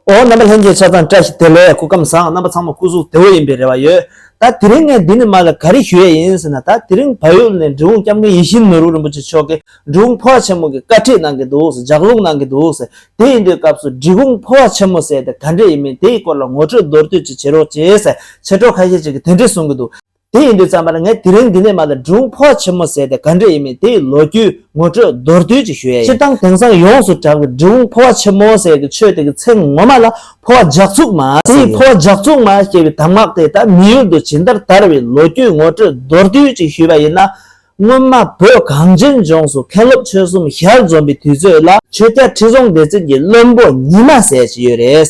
འོ་རྣམ་པ་ལྷན་སྐྱེས་ཆ་ཚང་བཀྲ་ཤིས་བདེ་ལེགས་སྐུ་ཁམས་བཟང་རྣམ་པ་ཚང་མ་སྐུ་གཟུགས་བདེ་བོ་ཡིན་པའི་རེ་བ་ཡོད། ད་དེ་རིང་ངས་འདི་ནས་མར་ལ་ག་རེ་ཞུ་ཡས་ཡིན་ཟེར་ན་ད་དེ་རིང་བལ་ཡུལ་ནས་འབྲི་འུ་སྐྱབས་མགོན་ཡིད་བཞིན་ནོར་བུ་རིན་པོ་ཆེ་མཆོག་གིས་འབྲི་གུང་ཕོ་བ་ཆེན་མོ་གི་བཀའ་ཁྲིད་གནང་གི་འདུག་ཟེར་ལྗགས་ལུང་གནང་གི་འདུག་ཟེར་དེ་ཡིན་དུས་སྐབས་སུ་འབྲི་གུང་ཕོ་བ་ཆེན་མོ་ཟེར་དེ་ག་འདྲས་ཡིན་མིན་དེའི་སྐོར་ལ་ངོ་སྤྲོད་མདོར་བསྡུས་ཅིག་བྱེད་རོགས་ཅེས་ཟེར་ཕྱི་དྲོ་ཁ་ཤས་ཅིག་གིས་དེ་འདྲས་གསུང་གི་འདུག། དེ་ཡིན་དུས་རྩམ་པར་ངས་དེ་རིང་འདི་ནས་མ་ལ་སྒྲུང་ཕོག་ཆེན་མོ་ཟེར་ཏེ་ག་འདྲ་ཡིན་མིན་དེ་ཡི་ལོ་རྒྱུས་ངོ་སྤྲོད་མདོར་བསྡུས་ཅིག་ཞུ་ཡ་ཡིན། སྤྱིར་བཏང་དེང་སང་ཡོངས་སུ་གྲགས་པའི་སྒྲུང་ཕོག་ཆེན་མོ་ཟེར་གི་ཆོས་དེ་གི་ཚེ་ངོ་མ་ལ་ཕོག་ལྗགས་བཙུགས་མ་ཟེར་ཡིན། ཕོག་ལྗགས་བཙུགས་མ་ཞེས་པའི་གདམས་ངག་དེ་དག་མི་ཡུལ་དུ་ཇི་ལྟར་དར་བའི་ལོ་རྒྱུས་ངོ་སྤྲོད་མདོར་བསྡུས་ཅིག་ཞུས་པ་ཡིན་ན། སྔོན་མ་བོད་གངས་ཅན་ལྗོངས་སུ་མཁན་སློབ་ཆོས་གསུམ་ཞལ་འཛོམས་པའི་དུས་ཚོད་ལ། ཆོས་རྒྱལ་ཁྲི་སྲོང་ལྡེ་བཙན་གྱིས་བློན་པོ་ཉི་མ་ཟེར་ཞིག་ཡོད་རེད།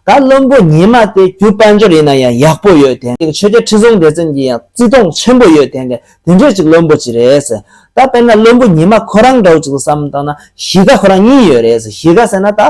ད་བློན་པོ་ཉི་མ་དེ་རྒྱུ་དཔལ་འབྱོར་ཡིན་ན་ཡང་ཡག་པོ་ཡོད་དེ། ཆོས་རྒྱལ་ཁྲི་སྲོང་ལྡེ་བཙན་གྱིས་ཡང་བརྩི་མཐོང་ཆེན་པོ་ཡོད་དེ། དེ་འདྲས་ཅིག་བློན་པོ་ཅིག་རེད། ད་དཔེར་ན་བློན་པོ་ཉི་མ་ཁོ་རང་འདྲ་བོ་ཅིག་ལ་བསམ་བཏང་ན་གཞིས་ཀ་ཁོ་རང་གཉིས་ཡོད་རེད། གཞིས་ཀ་ཟེར་ན་ད།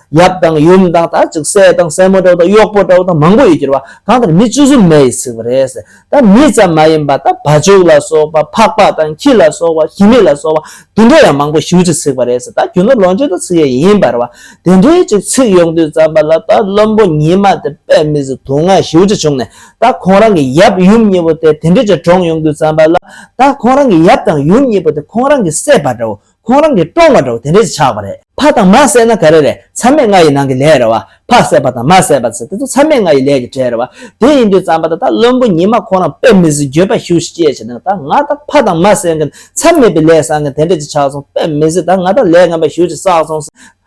ཡབ་དང་ཡུམ་དང་དར་ཅིག་སྲས་དང་སྲས་མོ་འདྲ་བོ་དང་གཡོག་པོ་འདྲ་བོ་དང་མང་པོ་ཡོད་ཅེས་པ་གང་ལྟར་མི་བཅུ་གསུམ་མེ་ཡིས་ཚིག་པ་རེད། ད་མི་ཙམ་མ་ཡིན་པ་ད་བ་བྱུག་ལ་སོགས་པ་ཕག་པ་དང་ཁྱི་ལ་སོགས་པ་ཞི་མི་ལ་སོགས་པ་དུད་འགྲོ་ཡང་མང་པོ་བཞི་བཅུ་གཅིག་ཚིག་པ་རེད། ད་རྒྱུ་ནོར་ལོངས་སྤྱོད་དུ་ཚིག་ཡས་ཡིན་པར་བ་དེ་འདྲའི་ཅིག་ཚིག་ཡོང་དུས་བརྩམས་པ་ལ་ད་བློན་པོ་ཉི་མ་དེ་པད་མི་ཟི་དུང་ང་བཞི་བཅུ་བྱུང་ནས་ད་ཁོང་རང་གི་ཡབ་ཡུམ་གཉིས་པོ་དེ་དེ་འདྲའི་ཅིག་གྲོངས་ཡོང་དུས་བརྩམས་པ་ལ་ད་ཁོང་རང་གི་ཡབ་དང་ཡུམ་གཉིས་པོ་དེ་ཁོང་རང་གི་སྲས་པ་འདྲ་བོ་ཁོང་རང་གིས་བཀྲོངས་པ་འདྲ་བོ་དེ་འདྲས་སུ་ཆགས་པ་རེད། ཕ་དང་མ་བསད་ན་ག་རེ་རེད་ཚ་མེད་ང་ཡི་ནང་གི་ལས་རེད་བ། ཕ་བསད་པ་དང་མ་བསད་པ་ཟེར་དེ་ཚོ་ཚ་མེད་ང་ཡི་ལས་ཀྱི་གྲས་རེད་བ། དེ་ཡིན་དུས་རྩམ་པ་ད་ལྟ་བློན་པོ་ཉི་མ་ཁོང་རང་དཔེ་མི་སྲིད་འགྱོད་པ་ཞུ་ཞིག་སྐྱེས་བྱས་ནས་ད་ང་ད་ཕ་དང་མ་བསད་མཁན་ཚ་མེད་པའི་ལས་བསགས་མཁན་དེ་འདྲས་སུ་ཆགས་སོང་དཔེ་མི་སྲིད་ད་ང་ད་ལས་ངན་པ་ཞུ་ཞིག་བསགས་སོང།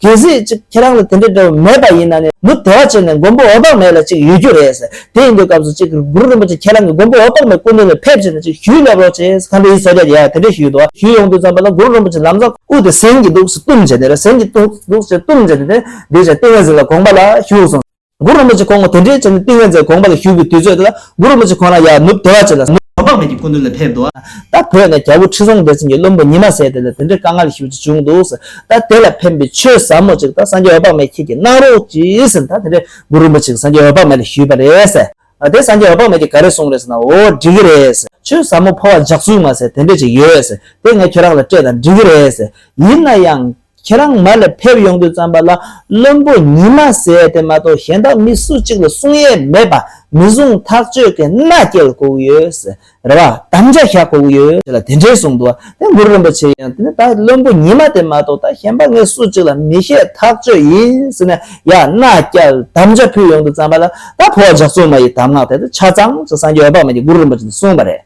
གལ་སྲིད་ཅིག་ཁྱེད་རང་ལ་དེ་འདྲའི་འབྲས་བུ་མེད་པ་ཡིན་ན་ནི་མུ་དེ་བ་ཅན་ནས་མགོན་པོ་འོད་དཔག་མེད་ལ་ཅིག་ཡོད་རྒྱུ་རེད། དེ་ཡིན་དུས་སྐབས་སུ་ཅིག་གུ་རུ་རིན་པོ་ཆེ་ཁྱེད་རང་གིས་མགོན་པོ་འོད་དཔག་མེད་སྐུ་མདུན་ལ་ཕེབས་ཕྱིན་ན་ཅིག་ཞུས་ལབ་རོགས་ཅེས་ཁམས་པའི་ཡུལ་ས་རྒྱ་ཡས་དེ་འདྲའི་ཞུས་འདུག་ཞུས་ཡོང་དུས་ཙམ་པ་ལ་གུ་རུ་རིན་པོ་ཆེ་ལམ་བཟང་དབུས་ཏེ་ཟན་གྱིས་གདུགས་སུ་གཏུམས་བྱས་ནས་ར་ཟན་གྱིས་གདུགས་སུ་གཏུམས་བྱས་ནས་ནི་འདུས་བྱས་ཏིང་ངེ་འཛིན་ལ་དགོངས་པ་ལ་བཞུགས་སོང། གུ་རུ་མི་ཆོས་ཁོང་དེ་འདྲའི་ཆེ་ནས་ཏིང་ངེ་འཛིན་དགོངས་པ་ལ་ཞུགས་པའི་དུས་ཚོད་དེ་ལ་གུ་རུ་མི་ཆོས་ཁོང་རང་ཡར་ནུབ་དེ་བ་ཅན་ལ། ཟློག་དཔག་མེད་ཀྱི་ཀུན་འདུས་ལ་ཕེབས། ད་བོད་ནས་རྒྱལ་པོ་ཁྲི་སྲོང་ལྡེ་བཙན་གྱི་བློན་པོ་ཉི་མ་ཟེར་དེ་ལ་དེ་འདྲའི་དཀའ་ངལ་ཞིག་ཅིག་བྱུང་འདུག་ད་དེ་ལ་ཕན་པའི་ཆོས་ཟབ་མོ་ཅིག་ད་སངས་རྒྱས་འོད་དཔག་མེད་ཁྱེད་ཀྱིས་གནང་རོགས་ཅིག་ཟེར་ནས་ད་དེ་འདྲའི་གུ་རུ་མི་ཆོས་ཀྱིས་སངས་རྒྱས་འོད་དཔག་མེད་ལ་ཞུས་པ་རེད། ད་དེ་སངས་རྒྱས་འོད་དཔག་མེད་ཀྱིས་ག་རེ་གསུངས་རེད་ཟེར་ན་འོ་འགྲིག་གི་རེད། ཆོས་ཟབ་མོ་འཕོ་བ་འཇགས་ཚུལ་མ་ཟད་དེ་འདྲས་ཅིག་ཡོད། དེ་ངས་ཁྱོད་རང་ལ་སྤྲད་ད་འགྲིག་གི་རེད། ཡིན་ན་ཡང། ཁྱེད་རང་མར་ལས་ཕེབས་ཡོང་དུས་བརྩམས་པ་ལ་བློན་པོ་ཉི་མ་ཟས་དེ་མ་གཏོགས་གཞན་དག་མི་སུ་གཅིག་ལ་གསུང་ཡས་མེད་པ་མི་བཟུང་ཐག་གཅོད་མཁན་མནའ་སྐྱེལ་དགོས་ཀྱི་ཡོད། རེ་བ་དམ་བཅའ་བཞག་དགོས་ཀྱི་ཡོད། ཅེས་ལ་དེ་འདྲའི་གསུང་འདུག་དེ་འགུར་རིན་པོ་ཆེ་ཡིན་དེ་ནས་ད་བློན་པོ་ཉི་མ་དེ་མ་གཏོགས་ད་གཞན་པ་ངས་སུ་གཅིག་ལ་མི་བཤད་ཐག་གཅོད་ཡིན་ཟེར་ནས་ཡར་མནའ་སྐྱལ་དམ་བཅའ་ཕུལ་ཡོང་དུས་བརྩམས་པ་ལ་ད་བོད་ཇག་ཚོགས་མ་ཡི་དམ་ངག་དེ་ད་ཆ་གཙང་ཆུ་སངས་རྒྱས་འོད་དཔག་མེད་ཀྱི་འགུར་རིན་པོ་ཆེ་དེ་གསུངས་པ་རེད།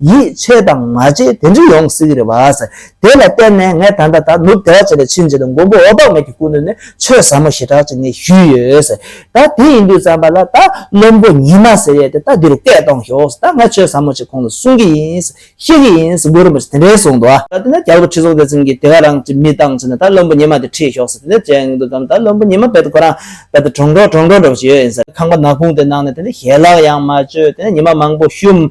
ཡིད་ཆེས་དང་མ་བྱས་དེ་འདྲས་ཡོང་སྲིད་ཀྱི་རེད་བཱས། དེ་ལ་བརྟེན་ནས་ངས་ད་ལྟ་ད་ནུབ་བདེ་བ་ཅན་ལ་ཕྱིན་རྗེས་དང་མགོན་པོ་འོད་དཔག་མེད་ཀྱི་སྐུ་མདུན་ནས་ཆོས་ཟབ་མོ་ཞེ་དྲག་ཅིག་ངས་ཞུས་ཡོད། ད་དེ་ཡིན་དུས་བརྩམས་པ་ལ་ད་བློན་པོ་ཉི་མ་ཟེར་ཡས་དེ་ད་འདི་རུ་སྐད་གཏོང་ཞོག་ད་ང་ཆོས་ཟབ་མོ་ཅིག་ཁོང་ལ་གསུང་གི་ཡིན། བཤད་ཀྱི་ཡིན་མགོན་རིན་པོ་ཆེས་དེ་འདྲས་གསུངས་འདུག། ད་དེ་ནས་རྒྱལ་པོ་ཁྲི་སྲོང་ལྡེ་བཙན་གྱིས་དེ་ག་རང་གི་མི་བཏང་ཟེར་ན་ད་བློན་པོ་ཉི་མ་དེ་ཁྲིད་ཞོག་ཟེར་དེ་འདྲས་བྱས་ཡོང་གི་འདུག་བསམ་ད་བློན་པོ་ཉི་མ་བས་དེ་ཁོ་རང་བས་དེ་གྲོང་གྲོང་གྲོང་གྲོང་འགྲོ་བཞིན་ཡོད་ཡིན། ཁང་པ་ནག་ཁུང་དེ་ནང་ནས་དེ་འདྲས་ཞལ་ལག་ཡང་མ་གཅོད་དེ་ཉི་མ་མང་པོ་བཤུམས།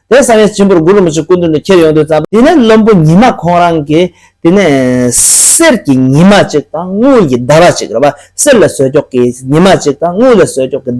དེ་བསམ་ཡས་སྤྱིན་པོར་དགུ་རིན་པོ་ཆེ་སྐུ་མདུན་དུ་ཁྱེར་ཡོང་དུས་བརྩམས་པ། དེ་ནས་བློན་པོ་ཉི་མ་ཁོང་རང་གིས་དེ་ནས་གསེར་གྱི་ཉི་མ་གཅིག་དང་དངུལ་གྱི་ཟླ་བ་གཅིག་རེ་བ་གསེར་ལས་ཟོས་འཁྱོག་གི་ཉི་མ་གཅིག་དང་དངུལ་ལས་ཟོས་འཁྱོག་གི་ཟླ་བ་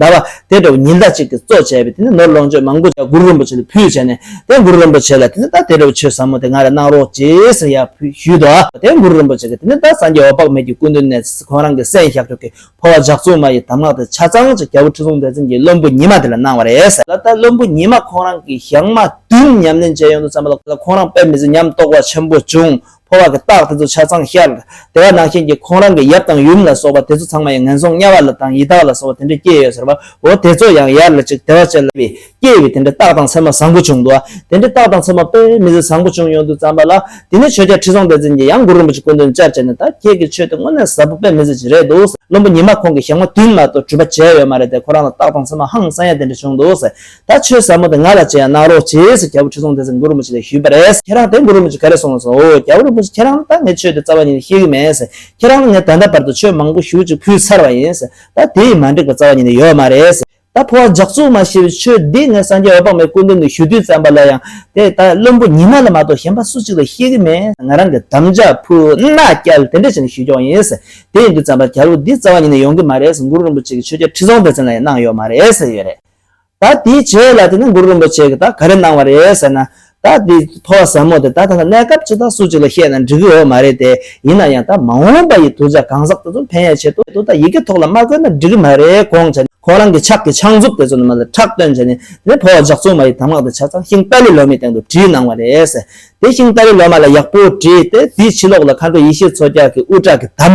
དེ་འདྲ་བོ་ཉི་ཟླ་གཅིག་གི་གཙོ་བྱས་པའི་དེ་ནས་ནོར་ལོངས་སྤྱོད་མང་པོ་གུ་རུ་རིན་པོ་ཆེ་ལ་ཕུལ་བྱས་ནས་དེ་གུ་རུ་རིན་པོ་ཆེ་ལ་དེ་ནས་ད་དེ་འདྲ་བོ་ཆོས་ཟབ་མོ་དེ་ང་ལ་གནང་རོགས་ཅེས་ཟེར་ཡག་ཕུལ་ཞུས་ཏོ། དེ་གུ་རུ་རིན་པོ་ཆེ་གིས་དེ་ནས་ད་སངས་རྒྱས་འོད་དཔག་མེད་ཀྱི་སྐུ་མདུན་ནས་ཁོང་རང་གི་སྲས་ཤཱཀྱོག་གི་འཕོ་བ་ཇག་ཚོགས་མ་ཡི་དམ་ངག་དང་ཆ་ཚང་ཅིག་རྒྱལ་པོ་ཁྲི་སྲོང་ལྡེ་བཙན་གྱིས་བློན་པོ་ཉི་མ་དེ་ལ་གནང་བ་རེད། ད་ལྟ་བློན་པོ་ཉི་མ་ཁོང་རང་གིས་ཞག་མ་བདུན་ཉམས་ལེན་བྱེད་ཡོང་དུ་བརྩམས་པ་ལ་ཁོང་རང་དཔེ་མི་སྲིད་སྙམ་དོགས་པ་ཆེན་པོ་བྱུང། འཕོ་བ་གི་རྟགས་དེ་ཚོ་ཆ་ཚང་ཤར། དེ་བ་ནང་བཞིན་གྱི་ཁོང་རང་གི་ཡབ་དང་ཡུམ་ལ་སོགས་པ་དེ་ཚོ་ཚང་མ་ཡང་ངན་སོང་དམྱལ་བ་ལ་དང་ཡི་དྭགས་ལ་སོགས་པ་དེ་འདྲས་སྐྱེས་ཡོད་ཟེར་བ་འོ་དེ་ཚོ་ཡང་ཡར་ལ་ཅིག་དེ་བ་ཅན་ལ། སྐྱེས་པའི་དེ་འདྲའི་རྟགས་དང་མཚན་མ་བཟང་པོ་བྱུང་འདུག་དེ་འདྲའི་རྟགས་དང་མཚན་མ་དཔེ་མི་སྲིད་བཟང་པོ་བྱུང་ཡོད་འདུག་བརྩམས་པ་ལ་དེ་ནས་ཆོས་རྒྱལ་ཁྲི་སྲོང་ལྡེ་བཙན་གྱིས་ཡང་མགུར་རིན་པོ་ཆེ་སྐུ་མདུན་བཅར་བྱས་ནས་ད་ཁྱེད་ཀྱི་ཆོས་དེ་དངོས་གནས་ཟབ་པོ་དཔེ་མི་སྲིད་ཅིག་རེད་འདུག་བློན་པོ་ཉི་མ་ཁོང་གིས་ཞག་མ་བདུན་མ་གཏོགས་གྲུབ་པ་བྱས་ཡོད་མ་རེད་དེ་ཁོ་རང་ལ་རྟགས་དང་མཚན་མ་ཧང་སང་ཡ་དེ་འདྲ་བྱུང་འདུག་ད་ཆོས་ཟབ་མོ་དེ་ང་ལ་ཅི་ཡང་གནང་རོགས་གྱིས་སུ་རྒྱལ་པོ་ཁྲི་སྲོང་ལྡེ་བཙན་མགུར་རིན་པོ་ཆེ་ལས་ཞུས་པ་རེད། ཁྱེད་རང་དེ་མགུར་རིན་པོ་ཆེ་ག་རེ་གསུངས་ལ་སོང་འོ་རྒྱལ་པོ་རིན་པོ་ཆེ་ཁྱེད་རང་ལ་ད་ངས་ཆོས་དེ་རྩ་བ་ཉིད་ནས་ཤེས་ཀྱི་མེད། ཁྱེད་རང་ལ་ངས་ད་ལྟ་བར་དུ་ཆོས་མང་པོ་ཞུ་ཅིག་ཕུལ་ཚར་བ་ཡིན། ད་དེ་ཡིས་མ་འགྲིག་པ་རྩ་བ་ཉིད་ནས་ཡོད་མ་རེད། ད་འཕོ་བ་འཇགས་ཚུལ་མ་ཤེས་པའི་ཆོས་འདི་ངས་སངས་རྒྱས་འོད་དཔག་མེད་སྐུ་མདུན་དུ་ཞུ་དུས་བཙན་པ་ལ་ཡང་དེ་ལྟར་བླུན་པོ་ཉི་མ་ལ་མ་གཏོགས་གཞན་པ་སུ་གཅིག་ལ་ཤེས་ཀྱི་མེད། ང་རང་གི་དམ་བཅའ་ཕུ་ནག་སྐྱལ་དེ་འདྲ་བྱས་ནས་ཞུས་ཀྱང་ཡིན། དེ་ཡིན་དུས་བཙན་པ་ག་རུ་འདི་རྩ་བ་ཉིད་ནས་ཡོང་གི་མ་རེད་འགུར་རིན་པོ་ཆེ་གི་ཆོས་རྒྱལ་ཁྲི་སྲོང་ལྡེ་བཙན་ལ་ཡང་གནང་ཡོད་མ་རེད་ཟེར་ཡོད་རེད། ད་དེའི་རྗེས་ལ་དེ་ནས་འགུར་རིན་པོ་ཆེ་གི་ད་ག་རེ་གནང་བ་རེད་ཟེར་ན། ད་འདི་ཕོ་བ་ཟབ་མོ་དེ་ད་ཐ་ན་གནས་སྐབས་ཅི་དང་སུ་གཅིག་ལ་བཤད་ན་འགྲིག་གི་འོ་མ་རེད་དེ་ཡིན་ན་ཡང་ད་མ་འོངས་པ་ཡི་དུར་བྱ་གང་ཟག་དེ་ཚོ་ཕན་ཡ་ཆེད་དུ་ད་ཡི་གེ་ཐོག་ལ་མ་བཀོད་ན་འགྲིག་གི་མ་རེད་གོང་ཆ་ཁོང་རང་གི་ཕྱག་གི་ཕྱག་མཛུབ་དེ་ཚོ་ནི་མ་ལ་ཁྲག་བཏོན་བྱས་ནས་དེ་ཕོ་བ་ཇག་ཚུང་མ་ཡི་དམ་ངག་དེ་ཆ་ཚང་ཤིང་རྟ་ལི་ལོ་མའི་སྟེང་དུ་བྲིས་གནང་བ་རེད། དེ་ཤིང་རྟ་ལི་ལོ་མ་ལ་ཡག་པོ་བྲིས་ཏེ་དེའི་ཕྱི་ལོགས་ལ་མཁའ་འགྲོ་ཡེ་ཤེས་མཚོ་སྐྱག་གི་དབུ་སྐྲ་གི་དམ་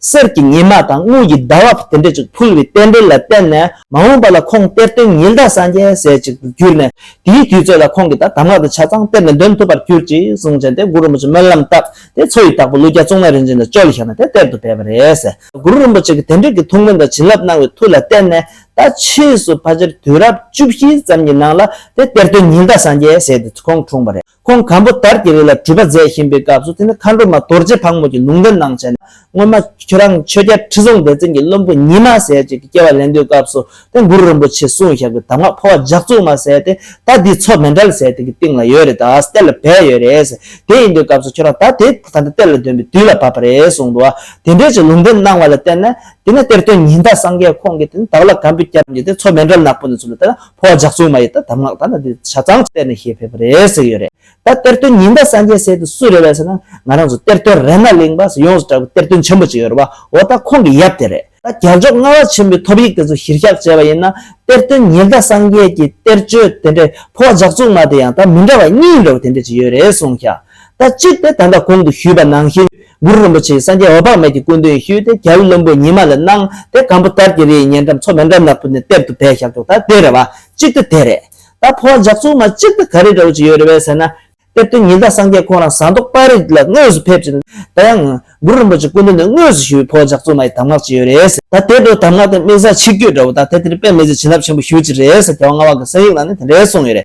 གསེར་གྱི་ཉི་མ་དང་དངུལ་གྱི་ཟླ་བ་དེ་འདྲས་ཀྱིས་ཕུལ་བའི་རྟེན་འབྲེལ་ལ་བརྟེན་ནས་མ་འོངས་པ་ལ་ཁོང་གཏེར་སྟོན་ཉི་ཟླ་སངས་རྒྱས་ཟས་གཅིག་ཏུ་གྱུར་ནས་དེའི་དུས་ཚོད་ལ་ཁོང་གིས་ད་གདམས་ངག་དང་ཆ་ཚང་གཏེར་ནས་འདོན་ཐུབ་པར་གྱུར་ཅིག་གསུང་བྱས་ཏེ་གུ་རུ་རིན་པོ་ཆེས་སྨོན་ལམ་བཏབ་སྟེ་མཚོ་ཡི་དྭགས་པོ་ཀླུ་རྒྱལ་གཙུག་ན་རིན་ཆེན་དང་ཅོ་ལི་ཞང་ནས་དེ་གཏེར་དུ་སྦས་པ་རེད། གུ་རུ་རིན་པོ་ཆེ་གིས་དེ་འབྲེལ་གྱི་ཐུགས་སྨོན་དང་བྱིན་རླབས་གནང་བའི་མཐུ་ལ་བརྟེན་ནས་ད་ཕྱིས་སུ་ཕ་ཆེར་དུས་རབས་བཅུ་བཞི་ཙམ་གྱི་ནང་ལ་དེ་གཏེར་སྟོན་ཉི་ཟླ་སངས་རྒྱས་ཟས་དེ་ཁོང་འཁྲུངས་པ་རེད། ཁོང་གམ་པོ་ཏར་གྱི་རི་ལ་བྲུས་པ་མཛད་བཞིན་པའི་སྐབས་སུ་དེ་ནི་མཁའ་འགྲོ་མ་རྡོ་རྗེ་ཕག་མོ་གྱི་ལུང་བསྟན་གནང་བྱས་ནས་སྔོན་མ་ཁྱོད་རང་ཆོས་རྒྱལ་ཁྲི་སྲོང་ལྡེ་བཙན་གྱི་བློན་པོ་ཉི་མ་ཟས་བཅད་ཀྱི་སྐྱེ་བ་ལེན་འདོད་སྐབས་སུ་དེ་གུ་རུ་རིན་པོ་ཆེ་གསུང་བཞག་གི་དམ་ངག་འཕོ་བ་ལྗགས་བཙུགས་མ་ཟས་ཏེ་ད་འདིའི་མཚོ་མེ་འདྲ་ལ་ཟས་དེ་གི་སྟེང་ལ་ཡོད་རེད་ད་ཨ་སྟེ་ལ་བས་ཡོད་རེད་དེ་ཡིན་འདོད་སྐབས་སུ་ཁྱོད་རང་ད་དེ་ད་ནི་སྟེ་ལ་འདོན་པའི་དུས་ལ་བབས་པ་རེད་གསུང་འདུག་ཨ་དེ་འདྲའི་ཆེ་ལུང་བསྟན་གནང་བ་ལ་བརྟེན་ནས་དེ་ནས་གཏེར་སྟོན་ཉི་ཟླ་སངས་རྒྱས་ཁོང་གིས་དེ་ནི་དྭགས་ལ་གམ་པོའི་སྐྱབས་ཀྱིས་དེ་མཚོ་མེ་འདྲ་ལ་ནག་པོ་ནས་ཚུར་ལ་བཏེགས་ན་ཕོ་བ་ཇག་ཚུགས་མ་ཡིས་ད་གདམས་ངག་ད་ན་དེ་བྱ་ཙང་གཏེར་ནས་ཤེས་ཕེབས་པ་རེད་ཟེར་གྱི་ཡོད་རེད། ད་གཏེར་སྟོན་ཉི་ཟླ་སངས་རྒྱས་ཟེར་དེ་སུ་རེད་བ་ཟེར་ན་ང་རང་ཚོ་གཏེར་སྟོན་རེ་ན་གླིང་པ་སུ་ཡོངས་སུ་གྲགས་པའི་གཏེར་སྟོན་ཆེན་པོ་གཅིག་ཡོད་རེད་བ་འོ་ད་ཁོང་གི་ཡབ་དེ་རེད། ད་རྒྱལ་མཆོག་ལྔ་བ་ཆེན་པོའི་ཐོབ་ཡིག་དེ་ཚོ་གཞིར་བཞག་བྱས་བ་ཡིན་ན་གཏེར་སྟོན་ཉི་ཟླ་སངས་རྒྱས་ཀྱི་གཏེར་ཆོས་དེ་འདྲས་ཕོ་བ་ཇག་ཚུགས་མ་དེ་ཡང་ད་མི་འདྲ་བ་གཉིས་ཡིན་འདྲ་བ་དེ་འདྲས་ཅིག་ཡོད་རེད་གསུངས་ཤག་ད་སྤྱིར་དེ་དམ་པ་གོང་དུ་ཞུས་པ་ནང་བཞིན་གུ་རུ་རིན་པོ་ཆེས་སངས་རྒྱས་འོད་དཔག་མེད་ཀྱི་སྐུ་འདོན་ཞུས་ཏེ་རྒྱལ་བུ་བློན་པོ་ཉི་མ་ལ་གནང་དེ་གང་པོ་དར་གྱི་རི་ཡི་ཉེ་འགྲམ་མཚོ་མེ་འགྲམ་ནག་པོ་ནས་གཏེར་དུ་བས་ཞབས་ཏོག་ད་དེ་རེད་བ་སྤྱིར་དུ་དེ་རེད། ད་ཕོ་བ་ཇག་ཚུགས་མ་སྤྱིར་དུ་ག་རེ་འདྲ་བོ་ཅིག་ཡོད་རེད་བས་ཟེར་ན། དེར་དོན་ཉིད་ད་སངས་རྒྱས་ཁོང་རང་ཟངས་མདོག་དཔའ་རིས་ལ་དངོས་སུ་ཕེབས་ཅིང་ད་ཡང། གུ་རུ་རིན་པོ་ཆེ་སྐུ་འདོན་ནས་དངོས་སུ་ཞུས་པའི་ཕོ་བ་ཇག་ཚུགས་མ་ཡི་དམ་ངག་ཅིག་ཡོད་རེད། ད་དེ་འདྲ་བོ་དམ་ངག་དེ་དམིགས་བཟའ་ཆིག་བརྒྱུད་འདྲ་བོ་ད་དེ་དེར་དཔེ་མི་བཟོད་བྱིན་རླབས་ཆེན་པོ་ཞུ་ཅིག་རེད་ཟེར་རྒྱལ་བ་ང་བ་གི་གསན་ཡིག་ནང་ནས་དེ་འདྲའི་གསུངས་ཡོད་རེད།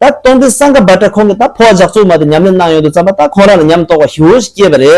ད་སྟོང་དུས་སངས་ག་བ་ཏྲ་ཁོང་གིས་ད་ཕོ་བ་ཇག་ཚོགས་མ་དེ་ཉམས་ལེན་གནང་ཡོང་དུས་བརྩམས་པ་ད་ཁོང་རང་ལ་ཉམས་རྟོགས་པ་ཞིག་འོ་ཞིག་སྐྱེས་པ་རེད།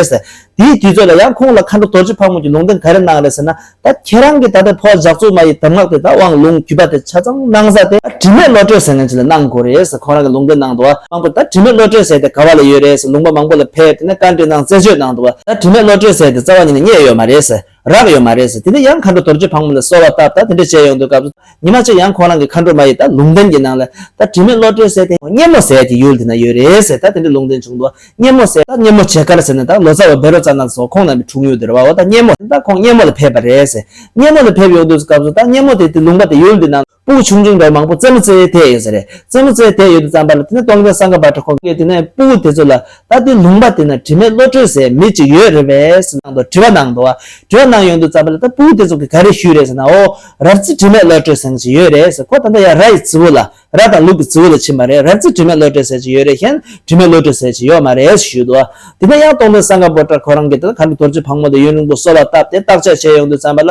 དེའི་དུས་ཚོད་ལ་ཡང་ཁོང་ལ་མཁའ་འགྲོ་རྡོ་རྗེ་ཕག་མོ་གྱི་ལུང་བསྟན་ག་རེ་གནང་རེད་ཟེར་ན། ད་ཁྱེད་རང་གིས་ད་ལྟའི་ཕོ་བ་ཇག་ཚོགས་མ་ཡི་གདམས་ངག་དེ་ད་དབང་ལུང་གུས་པ་དེ་ཆ་ཚང་གནང་ས་དེ། ད་དྲི་མེད་བློ་གྲོས་ཟེར་ན་ཅི་ལ་གནང་དགོས་རེད་ཟེར་ཁོང་རང་གིས་ལུང་བསྟན་གནང་འདུག་བ། མང་པོས་ད་དྲི་མེད་བློ་གྲོས་ཟེར་དེ་ག་བ་ལ་ཡོད་རེད་ཟེར་ལུང་པ་མང་པོ་ལ་ཕེབས་དེ་ནས་བཀའ་འདྲི་གནང་རྩད་གཅོད་གནང་འདུག་བ། ད་དྲི་མེད་བློ་གྲོས་ཟེར་དེ་རྩ་བ་ཉིད་ནས་རྙེད་ཡོད་མ་རེད་ཟེར། རག་ཡོད་མ་རེད་ཟེར་དེ་ནས་ཡང་མཁའ་འགྲོ་རྡོ་རྗེ་ཕག་མོ་ལ་གསོལ་བ་བཏབ་ད་དེ་འདྲ་བྱས་ཡོང་དུས་སྐབས་སུ་ཉི་མ་གཅིག་ཡང་ཁོ་རང་གི་མཁའ་འགྲོ་མ་ཡིས་ད་ལུང་བསྟན་གྱི་ནང་ལ་ད་དྲི་མེད་བློ་གྲོས་ཟེར་དེ་སྙེ་མོ་ཟེར་གྱི་ཡུལ་དེ་ན་ཡོད་རེད་ཟེར་ད་དེ་འདྲའི་ལུང་བསྟན་བྱུང་འདུག་སྙེ་མོ་ཟེར་ད་སྙེ་མོ་བྱེས་དཀར་ཟེར་ནས་ད་ལོ་ཙཱ་བ་བེ་རོ་ཙཱ་ནག་སོགས་ཁོང་རྣམ་པའི་འཁྲུངས་ཡུལ་དེར་བ་འོ་ད་སྙེ་མོ་ཟེར་ད་ཁོང་སྙེ་མོ་ལ་ཕེབས་པ་རེད་ཟེར་སྙེ་མོ་ལ་ཕེབས་ཡོང་དུས་སྐབས་སུ་ད་སྙེ་མོ་དེ་དེ་ལུང་པ་དེ་ཡུལ་འདི་ན། སྤུ་གུ་ཆུང་ཆུང་འདྲ་བ་མང་པོ་རྩེ་མོ་རྩེ་ཐལ་ཡོད་ས་རེད། རྩེ་མོ་རྩེ་ཐལ་ཡོད་དུ་བརྩམས་པ་ལ་དེ་ནས་སྟོང་རྒྱལ་སངྒ་བྷ་དྲ་ཁོང་གིས་དེ་ནས་སྤུ་གུ་དེ་ཚོ་ལ་ད་ལྟའི་ལུང་པ་དེ་ན་དྲི་མེད་བློ་གྲོས་ཟེར་མི་ཅིག་ཡོད་རེད་བས་ཟེར་ནང་དུ་དྲི་བ་གནང་འདུག་བ། དྲི་བ་གནང་ཡོང་དུས་བརྩམས་པ་ལ་ད་སྤུ་གུ་དེ་ཚོ་གིས་ག་རེ་ཞུས་རེད་ཟེར་ན་ཨོ། རབ་རྩེ་དྲི་མེད་བློ་གྲོས་ཟེར་མི་ཅིག་ཡོད་རེད་ཟེར་ཁོ་ད་ལྟ་ཡང་ར་ཡི་རྫི་བོ་ལ་ར་དང་ལུག་གི་རྫི་བོ་ལ་ཕྱིན་པ་རེད་རབ་རྩེ་དྲི་མེད་བློ་གྲོས་ཟེར་ཅིག་ཡོད་རེད་མཁྱེན་དྲི་མེད་བློ་གྲོས་ཟེར་ཅིག་ཡོད་མ་རེད་ཟེར་ཞུས་འདུག་བ། དེ་ནས་ཡང་སྟོང་རྒྱལ་སངྒ་བྷ་དྲ་ཁོ་རང་གིས་དེ་ལ་ག་འདྲ་དོར་ཚུལ་ཕག་མོ་དང་ཡོན་རིང་པོ་སོགས་ལ་བཏབ་སྟེ་བརྟག་དཔྱད་བྱས་ཡོང་དུས་བརྩམས་པ་ལ།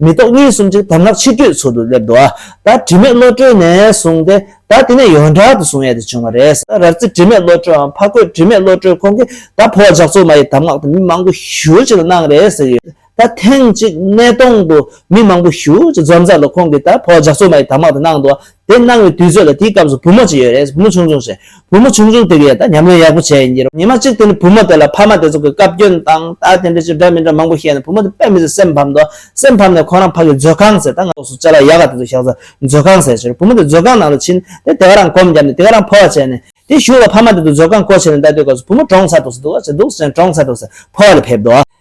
མི་རྟོག་གཉིས་གསུམ་ཅིག་དམ་ལྷག་ཕྱི་བསྐྱོད་ཚུལ་དུ་སླེབས་འདུག་ད་དྲི་མེད་བློ་གྲོས་ནས་བཟུང་སྟེ་ད་དེ་ནས་ཡོངས་གྲགས་དུ་བཟུང་ཡས་དེ་བྱུང་བ་རེད་ས་རར་རྩེ་དྲི་མེད་བློ་གྲོས་འམ་ཕ་རྒོད་དྲི་མེད་བློ་གྲོས་ཁོང་གིས་ད་ཕོ་བ་ཇག་ཚོགས་མ་ཡི་དམ་ངག་དེ་མི་མང་པོ་བཞུགས་ཅིག་ལ་གནང་རེད་ཟེར་གྱི་ཡོད་ད་ཐེངས་གཅིག་སྣེ་གདོང་དུ་མི་མང་པོ་བཞུགས་ཅིག་འཛོམས་ཚར་ལ་ཁོང་གིས་ད་ཕོ་བ་ཇག་ཚོགས་མ་ཡི་དམ་ངག་དེ་གནང་འདུག་དེ་གནང་བའི་དུས་ཚོད་ལ་དེའི་སྐབས་སུ་བུ་མོ་གཅིག་ཡོད་རེད་བུ་མོ་ཆུང་ཆུང་ཞིག། བུ་མོ་ཆུང་ཆུང་དེ་གིས་ད་ཉམས་ལེན་ཡག་པོ་བྱས་ཡིན་གྱི་ཉི་མ་གཅིག་དེ་ནི་བུ་མོ་དེ་ལ་ཕ་མ་དེ་ཚོ་གིས་བཀའ་བཀྱོན་དང་ད་དེ་འདྲ་ཅི་འདྲ་མི་འདྲ་མང་པོ་བཤད་ནས་བུ་མོ་དེ་དཔེ་མི་ཚེ་སེམས་ཕམ་འདུག་སེམས་ཕམ་ནས་ཁོང་རང་ཕ་གིས་མཛོད་ཁང་ཟེར་ད་ང་སོ་སྐྱ་ལ་ཡག་ག་དེ་ཚོ་བཞག་ཚོ་མཛོད་ཁང་ཟེར་ཟེར་བུ་མོ་དེ་མཛོད་ཁང་ནང་དུ་ཕྱིན་དེ་དེ་ག་རང་གོམ་བརྒྱབ་ནས་དེ་ག་རང་ཕོ་བ་བྱས་ནས་དེ་བཞུགས་ལ་ཕ་མ་དེ་ཚོ་མཛོད་ཁང་སྐོར་བྱས་ནས་ད་དུས་སྐབས་སུ་བུ་མོ་གྲོངས་ཚར་འདུག་ཟེར་འདུག་ཟེར་འདུག་ཟེར་ནས་གྲོངས་ཚར་འདུག་ཟེར་ཕོ་བ་ལ་ཕེབས་འདུག།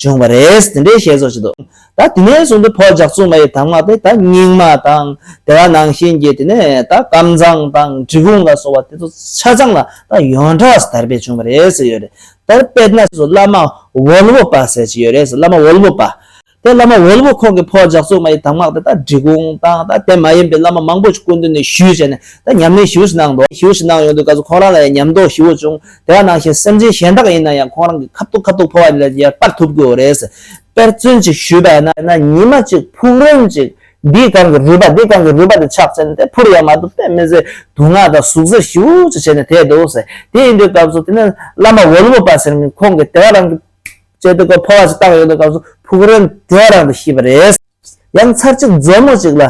བྱུང་བ་རེད། དེ་འདྲའི་བཤད་སྲོལ་ཞིག་འདུག་ད་དེ་ནས་བཟུང་སྟེ་བོད་ཇག་ཚུགས་མ་ཡི་དམ་ངག་དེ་ད་རྙིང་མ་དང་དེ་བ་ནང་བཞིན་གྱི་དེ་ནས་ད་ཀམ་ཚང་དང་གྲི་གུང་ལ་སོགས་བ་དེ་ཚོ་ཆ་ཚང་ལ་ད་ཡོངས་གྲགས་དར་སྤེལ་བྱུང་བ་རེད་ཟེར་ཡོད་རེད། དར་སྤེལ་ན་སོ་བླ་མ་ཝོལ་བོ་པ་ཟེར་གྱི་ཡོད་རེད་བླ་མ་ཝོལ་བོ་པ། དེ་བླ་མ་ཝོལ་བོ་ཁོང་གིས་བོད་ཇག་ཚུགས་མ་ཡི་དམ་ངག་དེ་ད་གྲི་གུང་དང་ད་དེ་མ་ཡིན་པའི་བླ་མ་མང་པོ་ཞིག་སྐུ་མདུན་ནས་ཞུས་བྱས་ནས་ད་ཉམས་ལེན་ཞིབ་ཞིག་གནང་འདུག་ཞིབ་ཞིག་གནང་ཡོང་དུས་ག་ཚོད་ཁོང་རང་ལ་ཡང་ཉམས་རྟོགས་ཞི་བོ་བྱུང། དེ་བ་ནང་བཞིན་སེམས་ཅན་གཞན་དག་ཡིན་ན་ཡང་ཁོང་རང་གི་ཁ་ཐུག་ཁ་ཐུག་འཕོ་བ་ལས་ཀྱང་སྤར་ཐུབ་དགོས་རེད། དཔེར་བརྩོན་ཅིག་ཞུས་པ་ན། ན་ཉི་མ་གཅིག་ཕུག་རོན་ཅིག་འདིས་གང་གི་རུས་པ་འདིས་གང་གི་རུས་པ་དེ་ཕྱག་བཙལ་ནས་དེ་འཕུར་ཡང་མ་ཐུབ་སྟེ་མི་ཟེར་དུག་ནག་དང་ཟུག་གཟེར་ཞིབ་ཅིག་བྱས་ནས་དེད་འདུག་ཟེར། དེ་ཡིན་དུས་སྐབས་སུ་དེ་ནས་བླ་མ་འོལ་མོ་པ་ཟེར་མིང་ཁོང་གིས་དེ་བ་རང་གི་སྤྱད་དེ་སྒོ་འཕོ་བ་ཞིག་བཏང་ཡོད་དུས་སྐབས་སུ་ཕུག་རོན་དེ་བ་རང་དུ་ཤི་བ་རེད། ཡང་ཚར་གཅིག་མཛོ་མོ་ཅིག་ལ།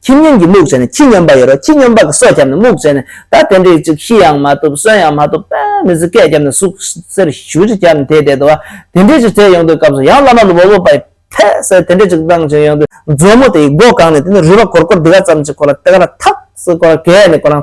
ཁྱིམ་ཉུང་གིས་རྨུགས་བྱས་ནས་ཁྱི་སྙོམས་པ་ཡོད་རོ་ཁྱི་སྙོམས་པ་གི་སྲོག་བསྐྱབས་ནས་རྨུགས་བྱས་ནས་ད་དེ་འདྲའི་ཅིག་ཤི་ཡང་མ་ཐུབ་གསོན་ཡང་མ་ཐུབ་དཔལ་མི་བཟི་སྐད་བརྒྱབ་ནས་ཟུག་གཟེར་ཞུ་རྒྱུ་བརྒྱབ་ནས་དེ་བསྡད་དོ། དེ་འདྲའི་ཅིག་བསྡད་ཡོང་དུས་སྐབས་སུ་ཡང་བླ་མ་ལུ་བོ་བོ་པ་ཡིས་ཕེ་སེ་དེ་འདྲའི་ཅིག་བཏང་བྱུང་ཡོང་དུས་མཛོ་མོ་དེ་ཡིས་སྒོ་གང་ནས་དེ་ནས་རུས་པ་གོར་གོར་འདི་ག་ཙམ་ཅིག་ཁོ་ལ་དེ་ག་ལ་ཐག་སོ་ཁོ་རང་གས་ནས་ཁོ་རང་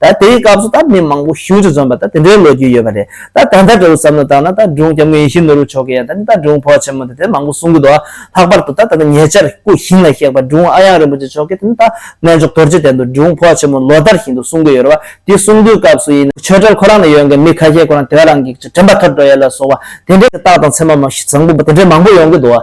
ད་དེའི་སྐབས་སུ་ད་མི་མང་པོ་ཤུལ་དུ་འཛོམས་པ་ད་དེ་འདྲའི་ལོ་རྒྱུས་ཡོད་པ་རེད། ད་ད་ལྟ་དྲི་བ་བསམ་བློ་བཏང་ན་ད་སྒྲུང་སྐྱབས་མགོན་ཡེ་ཤེས་ནོར་བུ་མཆོག་གི་ཡང་ད་ནི་ད་སྒྲུང་བོ་ཆེན་མོ་དེ་དེ་མང་པོ་གསུང་གི་འདུག་ཨ། ལྷག་པར་དུ་ད་ད་ལྟ་ཉེ་ཆར་སྐུ་ཞིང་ལ་གཤེགས་པ་སྒྲུང་ཨ་ཡང་རིན་པོ་ཆེ་མཆོག་གིས་དེ་ནི་ད་གནས་མཆོག་རྡོ་རྗེ་གདན་དུ་སྒྲུང་བོ་ཆེན་མོ་ལོ་ལྟར་བཞིན་དུ་གསུང་གི་ཡོད་རེད་བ་དེ་གསུང་དུས་སྐབས་སུ་ཡིན། ཆོས་གྲྭར་ཁོ་རང་ལ་ཡོད་མཁན་མི་ཁ་ཤས་ཁོ་རང་དེ་བས་རང་གིས་དྲན་པ་ཐོར་འགྲོ་ཡས་ལ་སོགས་བ་དེ་འདྲའི་རྟགས་དང་མཚན་མ་མ་ཞི་བཟང་པོ་དེ་འདྲའི་མང་པོ་ཡོང་གི་འདུག་ཨ།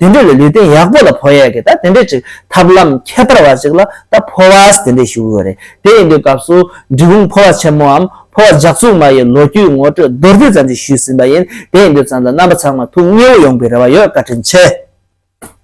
དེ་འདྲས་ལ་ལུས་རྟེན་ཡག་པོ་ལ་ཕོ་ཡས་ཀྱི་ད་དེ་འདྲས་ཅིག་ཐབས་ལམ་ཁྱད་པར་བ་ཅིག་ལ་ད་ཕོ་བས་དེ་འདྲས་ཞུ་གི་ཡོད་རེད་དེ་ཡིན་པའི་སྐབས་སུ་འབྲི་གུང་ཕོ་བ་ཆེན་མོའམ་ཕོ་བ་འཇག་ཚུགས་མ་ཡི་ལོ་རྒྱུས་ངོ་སྤྲོད་མདོར་བསྡུས་ཙམ་ཞིག་ཞུས་ཟིན་པ་ཡིན་དེ་ཡིན་དུས་ཙམ་ལ་རྣམ་པ་ཚང་མ་ཐུགས་མཉེས་བོ་ཡོང་པའི་རེ་བ་ཡོད་བཀའ་དྲིན་ཆེ།